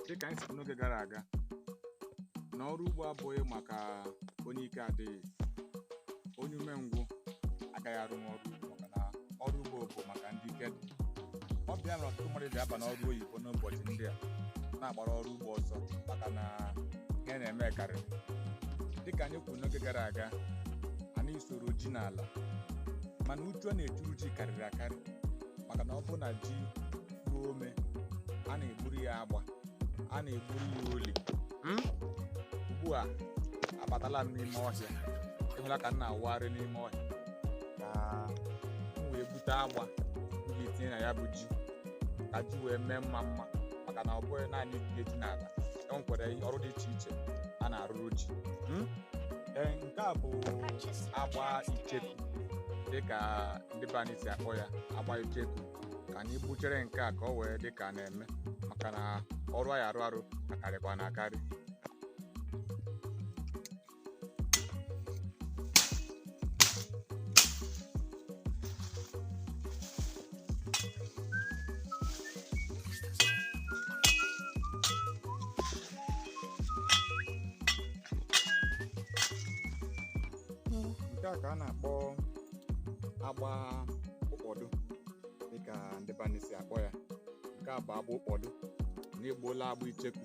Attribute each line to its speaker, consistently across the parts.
Speaker 1: dịka anyị si kwuo n'oge gara aga na ọrụ ugbo abụghị maka onye ike adịghị onye umengwụ agaghị arụnwu ọrụ ugbo maka na ọrụ ugbo bụ maka ndị ike dị ọ bụ ya mere ọtụtụ mmadụ ji aba n'ọrụ oyibo n'ụbọchị ndị a na-agbara ọrụ ugbo ọsọ maka na ihe a na-eme karịrị dịka anyị kwuru n'oge gara aga anyị soro ji n'ala mana uchu a na-echuru ji karịrị akarị maka na ọ bụ na ji ruo ome a na-egburu ya agba a na-egburu ya oli Hmm? ugbu a abatala m n'ime ọhịa ịhụla ka m na-awụgharị n'ime ọhịa ka m wee gbute agba m ga-etinye na ya bụ ji ka ji wee mee mma mma maka na ọ bụghị naanị itinye ji n'ala e nwekwara ọrụ dị iche iche a na-arụrụ ji Hmm? Ee, nke a bụ agba icheku dịka ndị be anyị si akpọ ya agba icheku ka anyị gbuchere nke a ka ọ wee dị ka a na-eme maka na ọrụ a ya-arụ arụ akarịkwana akarị nke a ka a na-akpọ agba ụkpọdụ dịka ndị be anyị si akpọ ya nke a bụ agba ụkpọdụ anyị egbuola agba icheku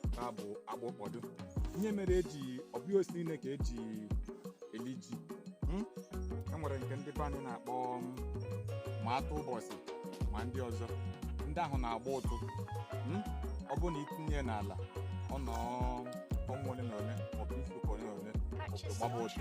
Speaker 1: nke a bụ agba ụkpọdụ ihe mere eji ọ bụghị osisi niile ka eji eli ji Hmm? e nwere nke ndị be anyị na-akpọ ma atụ ụbọchị ma ndị ọzọ ndị ahụ na-agba ụtụ Hmm? ọ bụrụ na itinye ya n'ala ọ nọ ọnwa ole na ole maọbụ izu ụka ole na ole gbaba ụtụ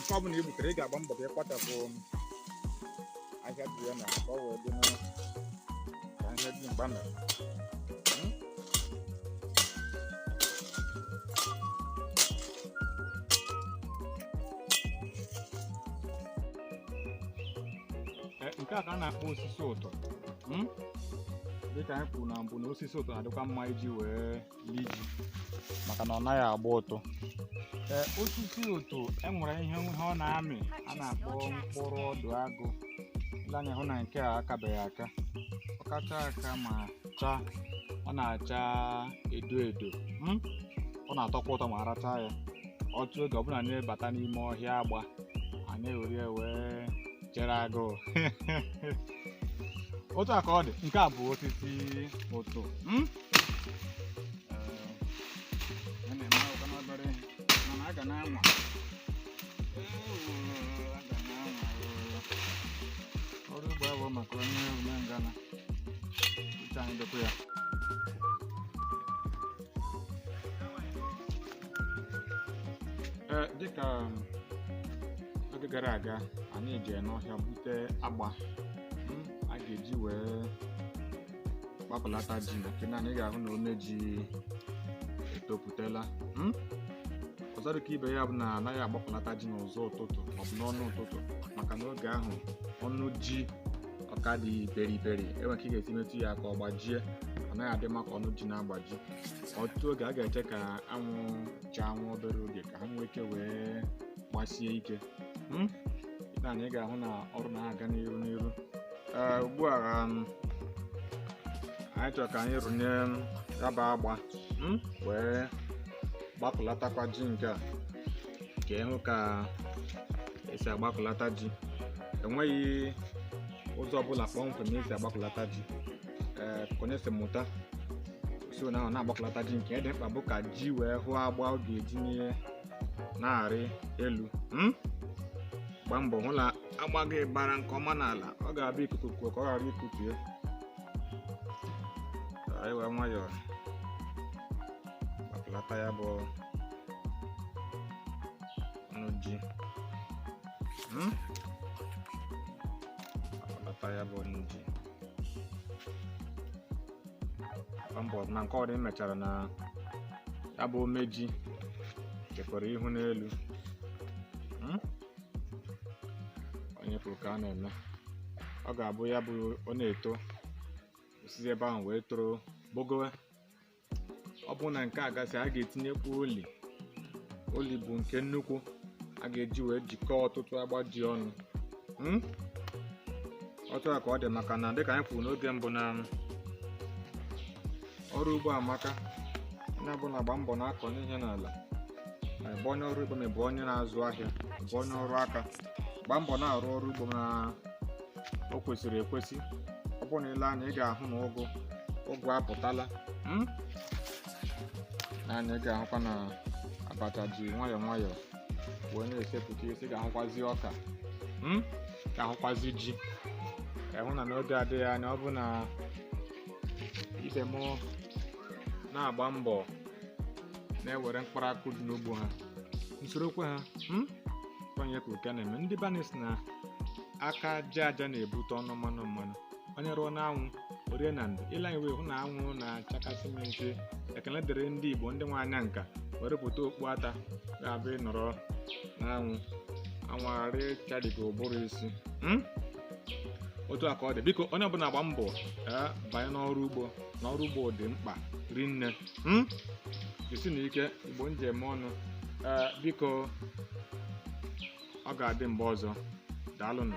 Speaker 1: nke ọ bụla i gbutere ị ga-agba mbọ ka ị kpachapụ aka dị ya na ka ọ wee dị mma ka ihe dị mgba mere nke a ka a na-akpọ osisi ụtụ dịka anyị kwuru na mbụ na osisi ụtụ na-adịkwa mma iji wee lie ji maka na ọ naghị agba ụtụ ee osisi ụtụ enwere ihe ihe ọ na-amị a na-akpọ mkpụrụ ọdụ agụ i lee anya hụ na nke a akabeghị aka ọ kachaa aka ma chaa ọ na-acha edo edo mm? ọ na-atọkwa ụtọ ma a rachaa ya ọtụtụ oge ọ bụ na anyị bata n'ime ọhịa agba anyị ewere ya wee chere agụụ otu a ka ọ dị nke a bụ osisi ụtụ mm? ọrụ ugbo abụrọ maka onye ume ngana uche anyị dịkwa ya ee dịka oge gara aga anyị jee n'ọhịa bute agba a ga-eji wee gbakọlata ji nke a nee anya ị ga-ahụ na ome ji etopụtala Hmm? ọzọ dịka ibe ya bụ na anaghị agbakọlata ji n'ụzọ ụtụtụ maọbụ n'ọnụ ụtụtụ maka na oge ahụ ọnụ ji ọ ka dị beriberi e nwere ka ị ga-esi metụ ya aka ọ gbajie ọ naghị adị mma ka ọnụ ji na-agbaji ọtụtụ oge a ga-eche ka anwụ chaa nwa obere oge ka ha nwee ike wee gbasie ike Hmm? nee anya ị ga-ahụ na ọrụ na-aga n'iru n'iru ugbu a um, anyị chọrọ ka anyị rụnye um, ya bụ agba hmm? wee gbakọlatakwa ji nke a ka ị hụ ka e si agbakọlata ji enweghị ụzọ ọbụla kpọmkwem e si agbakọlata ji ee ka onye si mụta si na ọ na-agbakọlata ji nke dị mkpa bụ ka ji wee hụ agba ọ ga-eji n'ihe na-arị elu hmm? gbaa mbọ hụ na agba gị bara nke ọma n'ala ọ ga-abụ ikuku kuo ka ọ ghara ikutu ya anyị were nwayọọ gbakọlata ya bụ ọnụ ji Hmm? gbakọlata ya bụ ọnụ ji Agba mbọ na nke ọdị mechara na ya bụ ome ji chekwara ihu n'elu Hmm? onye kwuru ka a na-eme ọ ga-abụ ya bụ ọ na-eto o sizie ebe ahụ wee toro gbagowe ọ bụrụ na nke a gasịa a ga-etinyekwa oli oli bụ nke nnukwu a ga-eji wee jikọọ ọtụtụ agba dị ọnụ Hmm? otu a ka ọ dị maka na dịka anyị kwuru n'oge mbụ na ọrụ ugbo amaka onye ọbụla gbaa mbọ na-akọnye ihe n'ala ma ị bụ onye ọrụ ugbo ma ị bụ onye na-azụ ahịa ma ị bụ onye ọrụ aka gbaa mbọ na-arụ ọrụ ugbo na o kwesịrị ekwesị ọ bụrụ na i lee anya ị ga-ahụ na ụgụ ụgụ apụtala hmm? nee anya ị ga-ahụkwa na abacha ji nwayọọ nwayọọ wee na-esepụta isi ị ga-ahụkwazi ọka hmm? ga-ahụkwazi ji ị hụ na n'oge adịghị anya ọ bụrụ na ibe m na-agba mbọ na-ewere mkpụrụ akụ dị n'ugbo ha m sorokwa ha hmm? onye ka uke na-eme ndị be anyị sị na aka aja aja na-ebute ọnụ mmanụ mmanụ onye rụọ n'anwụ o rie na ndo i lee anya wee hụ na anwụ na-achakasị m n'isi ekele dịrị ndị igbo ndị nwe anya nka wee rụpụta okpu ata ga-abụ ị nọrọ n'anwụ anwụ aghara ịcharị gị ụbụrụ isi Hmm? otu a ka ọ dị biko onye ọbụla gba mbọ ee banye n'ọrụ ugbo na ọrụ ugbo dị mkpa rinne Hmm? jisinụ ike igbo njem ọnụ ee biko ọ ga-adị mgbe ọzọ daalụnụ